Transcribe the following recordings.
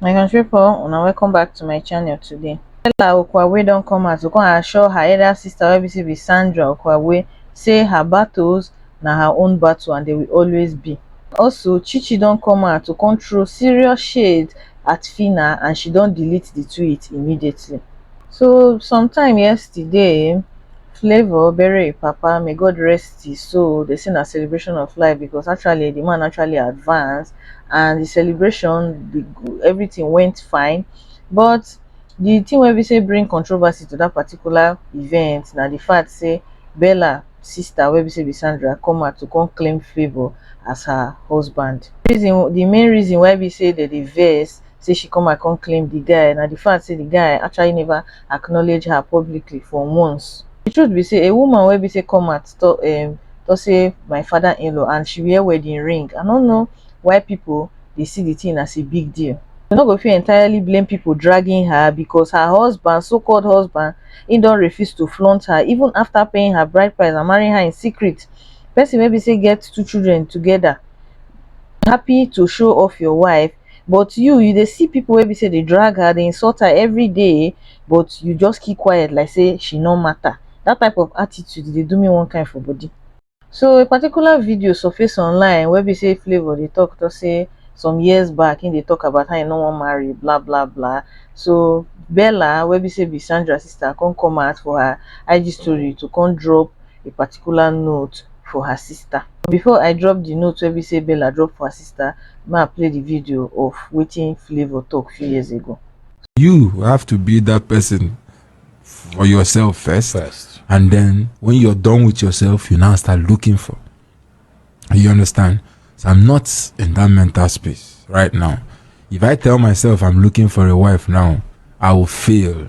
my country people una welcome back to my channel today stella okwabwe don come out to come assure her elder sister wey be say be sandra okwabwe say her battles na her own battle and they will always be also chichi don come out to come throw serious shade at phyna and she don delete the tweet immediately so sometime yesterday um flavour bury im papa may God rest his soul dey say na celebration of life because actually the man actually advance and the celebration the everything went fine but the thing wey be say bring controversy to that particular event na the fact say Bella sister wey be say be Sandra come out to come claim favour as her husband reason the main reason why be say dem dey vex say she come and come claim di guy na di fact say di guy actually neva acknowledge her publicly for months. Di truth be say, a woman wey be say come out tok um tok say my father-in-law and she wear wedding ring, I no know why pipo dey see di tin as a big deal. We no go fit entirely blame pipo dragging her becos her husband, so-called husband, im don refuse to flaunt her even afta paying her bride price and marrying her in secret. Pesin wey be say get two children togeda, happy to show off your wife but you you dey see people wey be say dey drag her dey insult her everyday but you just keep quiet like say she no matter that type of attitude dey do me one kind for body so a particular video surface online wey be say Flavour dey talk talk say some years back he dey talk about how he no wan marry blah blah blah so Bella wey be say be Sandra sister come come out for her IG story to come drop a particular note for her sister. Before I drop the note wey be say Bella drop for her sister, ma I play the video of wetin Flavour talk few years ago. You have to be that person for yourself first, first. and then when you're done with yourself, you now start looking for. You understand? So I'm not in that mental space right now. If I tell myself I'm looking for a wife now, I will fail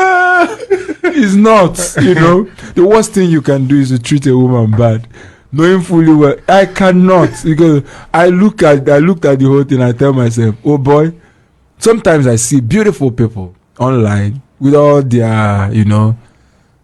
it's not you know the worst thing you can do is to treat a woman bad knowing fully well i cannot because i look at i looked at the whole thing i tell myself oh boy sometimes i see beautiful people online with all their you know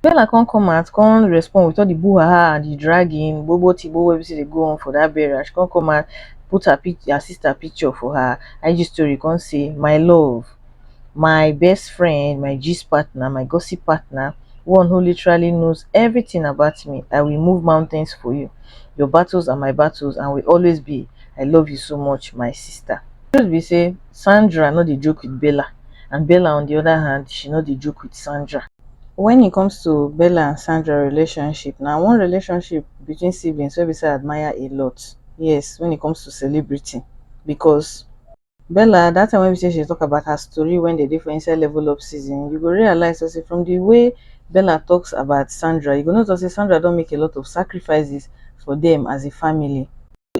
Bella come come out come respond with all the boo haha and the dragging bobo tibo wey be say dey go on for that burial she come come out put her pic her sister picture for her IG story come say my love my best friend my gist partner my gossip partner one who literally knows everything about me I will move mountains for you your battles are my battles and will always be I love you so much my sister. The truth be say Sandra no dey joke with Bella and Bella on the other hand she no dey joke with Sandra. When it comes to Bella and Sandra relationship, na one relationship between siblings wey be say I admire a lot. Yes, when it comes to celebrity, because Bella, that time wey be say she talk about her story when they dey for inside level up season, you go realize so say from the way Bella talks about Sandra, you go know so say Sandra don make a lot of sacrifices for them as a family.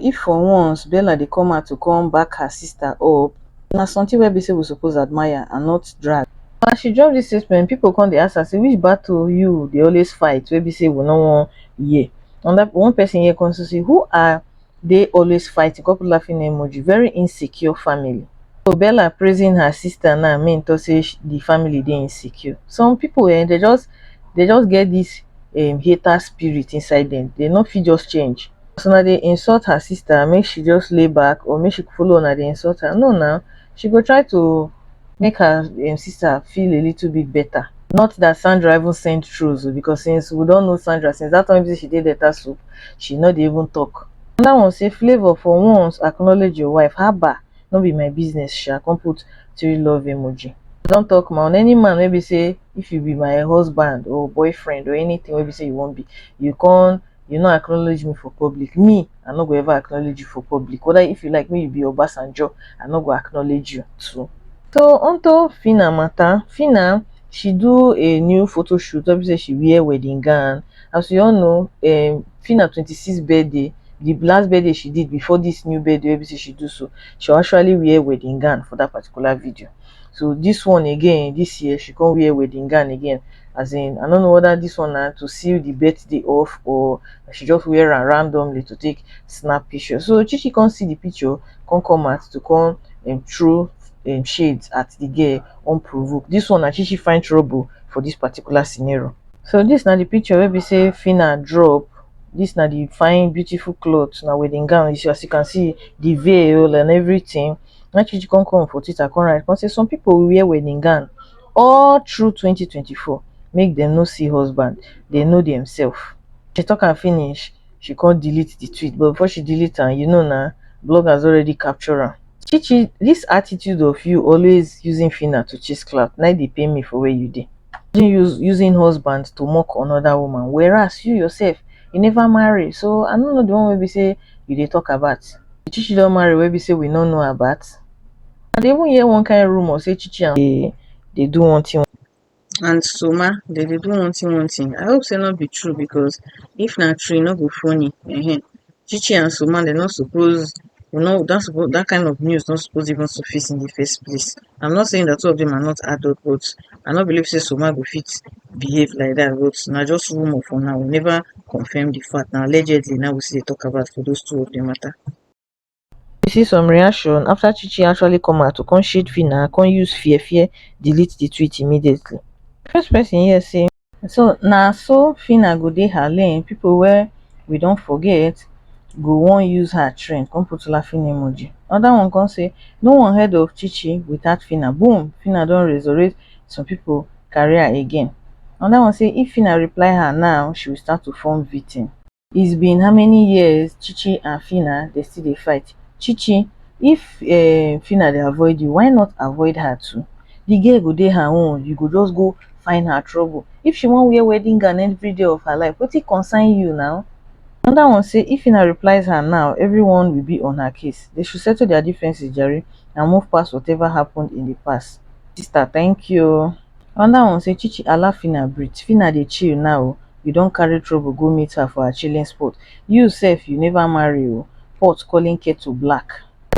if for once bella dey come out to come back her sister up na something wey be say we suppose admire and not drag as she drop this statement people come dey ask her say which battle you dey always fight wey be say we no wan hear another one person here come say who are they always fighting come put laughing emoji very insecure family so bella praising her sister now mean to say the family dey insecure some people um they just they just get this um hater spirit inside them they no fit just change as una dey insult her sister make she just lay back or make she follow una dey insult her no now she go try to make her um, sister feel a little bit better not that sandra even send trolls oh, because since we don't know sandra since that time she did that soup she not dey even talk That one say flavor for once acknowledge your wife haba no be my business sha come put three love emoji i don talk ma on any man wey be say if you be my husband or boyfriend or anything wey be say you wan be you con you no acknowledge me for public me i no go ever acknowledge you for public whether if you like me you be obasanjo i no go acknowledge you too so onto fina matter fina she do a new photo shoot wey be say she wear wedding gown as we all know um, fina 26 birthday the last birthday she did before this new birthday wey be say she do so she actually wear wedding gown for that particular video so this one again this year she come wear wedding gown again as in i don't know whether this one na to seal the birthday off or she just wear am randomly to take snap picture so chichi come see the picture come come out to come um, throw um, shades at the girl unprovoked this one na chichi find trouble for this particular scenario so this na the picture wey be say fina drop this na the fine beautiful cloth na wedding gown as you can see the veil and everything na she come come for Twitter come write come say some people will wear wedding gown all through 2024 make them no see husband they know themselves she talk am finish she come delete the tweet but before she delete am you know na bloggers already capture am chichi this attitude of you always using fina to chase clout na dey pain me for where you dey use using husband to mock another woman whereas you yourself you never marry so i no know the one wey be say you dey talk about Did Chichi don marry wey be say we no know about? I dey even hear one kind rumor say Chichi and dey dey do one thing and Soma dey dey do one thing one thing. I hope say no be true because if na true e no go funny. Ehen. Chichi and Soma dem no suppose dem no that suppose that kind of news no suppose even surface in the first place. I'm not saying that two of them are not adult but i no believe say soma go fit behave like dat but na just rumour for now we never confirm the fact na allegedly na we still dey talk about for those two of dem matter you see some reaction after chi chi actually come out to come shade phyna come use fear fear delete the tweet immediately the first person hear say So na so Phyna go dey her lane, people wey we don forget go wan use her trend, come put laughing emoji. Another one come say, no one heard of Chichi without Phyna, boom, Phyna don resurrect some people career again. Another one say if Phyna reply her now, she will start to form victim. It's been how many years Chichi and Fina they still dey fight. Chichi, if uh, Fina dey avoid you, why not avoid her too? The girl go dey her own, you go just go find her trouble. If she wan wear wedding gown every day of her life, wetin concern you now? Another one say if Fina replies her now, everyone will be on her case. They should settle their differences, Jerry, and move past whatever happened in the past. Sister, thank you. Another one say Chichi allow Fina breathe. Fina dey chill now. you don carry trouble go meet her for her chilling spot you sef you never marry oo pot calling kettle black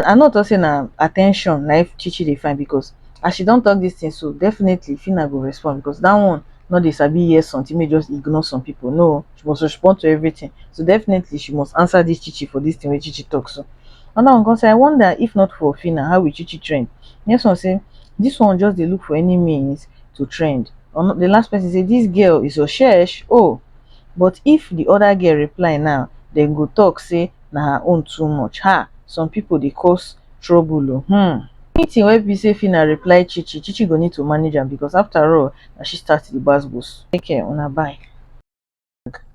I no talk say na attention na if Chichi dey find because as she don talk this thing so definitely Fina go respond because that one no dey sabi hear something make just ignore some people no she must respond to everything so definitely she must answer this Chichi for this thing wey Chichi talk so another one come say I wonder if not for Fina how will Chichi trend next one say this one just dey look for any means to trend or the last person say this girl is oshesh oh but if the other girl reply now then go talk say na her own too much ha some people they cause trouble oh hmm anything wey be say fina reply chichi chichi go need to manage am because after all na she start the gbas gbos take care una bye